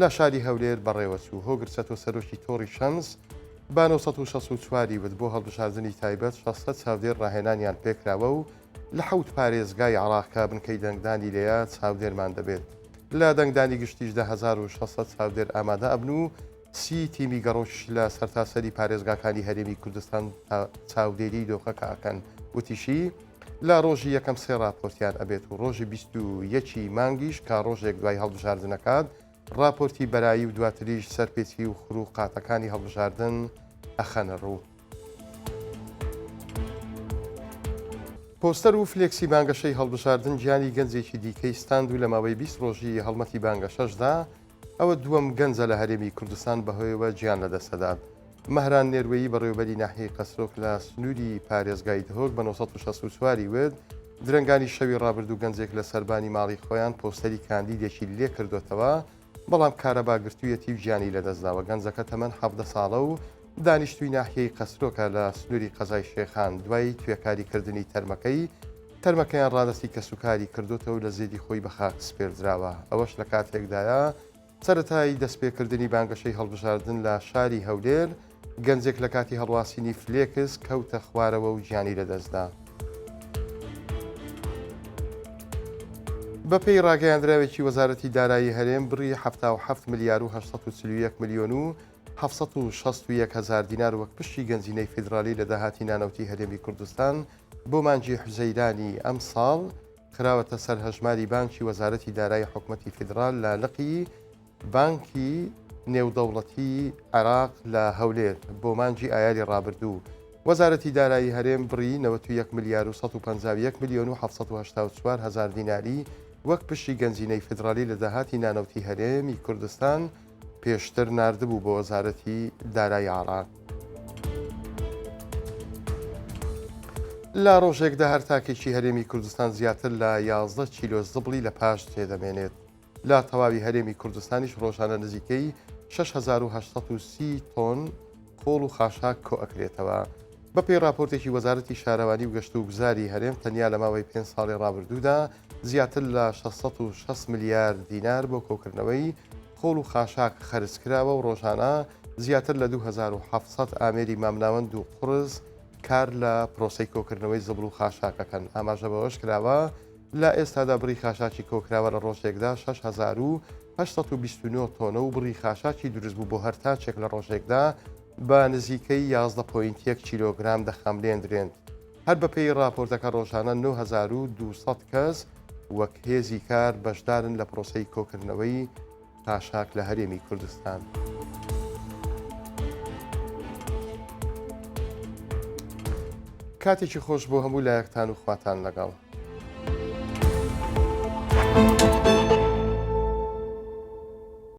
لە شاری هەولێر بەڕێوەچوو. هۆگر چەتۆ سەرۆکی تۆڕی شەمس بە نۆ سەد و شەست و چوار ی وت، بۆ هەڵبژاردنی تایبەت شەش سەد چاودێر ڕاهێنانیان پێکراوە و لە حەوت پارێزگای عێراق کە بنکەی دەنگدانی لێیە چاودێرمان دەبێت. لە دەنگدانی گشتیشدا هەزار و شەش سەد چاودێر ئامادە ئەبن و سی تیمی گەڕۆکیش لە سەرتاسەری پارێزگاکانی هەرێمی کوردستان چاودێریی دۆخەکە ئەکەن. وتیشی، لە ڕۆژی یەکەم سێ ڕاپۆرتیان ئەبێت و ڕۆژی بیست و یەکی مانگیش کا ڕۆژێک دوای هەڵبژاردنەکات ڕاپۆرتی بەرایی و دواتریش سەرپێچی و خرو و قاتەکانی هەڵبژاردن ئەخەنە ڕوو. پۆستەر و فلێکسی بانگەشەی هەڵبژاردن گیانی گەنجێکی دیکەی ستاند و لە ماوەی بیست ڕۆژی هەڵمەتی بانگەشەشدا ئەوە دووەم گەنجە لە هەرێمی کوردستان بەهۆیەوە گیان لەدەستەدات. مەهران نێروەیی بەڕێوەبەری ناحیەی قەسرۆک لە سنووری پارێزگای دهۆک بە نۆ سەد و شەست و چوار ی وت، درەنگانی شەوی ڕابردوو گەنجێک لە سەربانی ماڵی خۆیان پۆستەری کاندیدێکی لێکردۆتەوە، بەڵام کارەبا گرتوویەتی و گیانی لەدەستداوە، گەنجەکە تەمەن حەڤدە ساڵە و دانیشتووی ناحیەی قەسرۆکە لە سنووری قەزای شێخان، دوای توێکاری کردنی تەرمەکەی تەرمەکەیان ڕادەستی کەسوکاری کردۆتەو لە زێدی خۆی بە خاک سپێردراوە، ئەوەش لە کاتێکدایە سەرەتای دەستپێکردنی بانگەشەی هەڵبژاردن لە شاری هەولێر، گەنجێک لە کاتی هەڵواسینی فلێکس کەوتە خوارەوە و گیانی لەدەستدا. بەپێی ڕاگەیاندراوێکی وەزارەتی دارایی هەرێم، بڕی حەفتا و حەفت ملیار و هەشت سەد و چل و یەک ملیۆن و حەفت سەد و شەست و یەک هەزار دینار وەک پشکی گەنجینەی فیدرالی لە داهاتی نانەوتی هەرێمی کوردستان بۆ مانگی حوزەیرانی ئەمساڵ خراوەتە سەر هەژماری بانکی وەزارەتی دارایی حکومەتی فیدڕال لە لقی بانکی نێودەوڵەتی عێراق لە هەولێر بۆ مانگی ئایاری ڕابردوو وەزارەتی دارایی هەرێم بڕی 91 ملیار و 151 ملیۆن و 1970 هزار دیناری وەک پشتی گەنجینەی فیدڕالی لە داهاتی نانەوتی هەرێمی کوردستان پێشتر ناردبوو بۆ وەزارەتی دارایی عێراق. لە ڕۆژێکدا هەر تاکێکی هەرێمی کوردستان زیاتر لە 11 کیلۆ زبڵی لە پاش جێ دەمێنێت لە تەواوی هەرێمی کوردستانیش ڕۆژانە نزیکەی 6830 تۆن خۆڵ و خاشاک کۆئەکرێتەوە بەپێی راپۆرتێکی وەزارەتی شارەوانی و گەشت و گوزاری هەرێم تەنیا لە ماوەی پێ ساڵی ڕابردوودا زیاتر لە شەش سەد و شەست ملیار دینار بۆ کۆکردنەوەی خۆڵ و خاشاک خەرج کراوە و ڕۆژانە زیاتر لە دوو هەزار و حەڤت سەد ئامێری مامناوەند و قوڕس کار لە پرۆسەی کۆکردنەوەی زبڵ و خاشاک ئەکەن. ئاماژە بەوەشکراوە، لە ئێستادا بڕی خاشاکی کۆکراوە لە ڕۆژێکدا شەش هەزار و هەشت سەد و بیست و نۆ تۆنە و بڕی خاشاکی دروستبوو بۆ هەر تاکێک لە ڕۆژێکدا بە نزیکەی یازدە پۆینت یەک کیلۆگرام دەخاملێندرێند. هەر بەپێی ڕاپۆرتەکە ڕۆژانە نۆ هەزار و دوو سەد کەس وەک هێزی کار بەشدارن لە پرۆسەی کۆکردنەوەی خاشاک لە هەرێمی کوردستان. کاتێکی خۆش بۆ هەموو لایەکتان و خواتان لەگەڵ.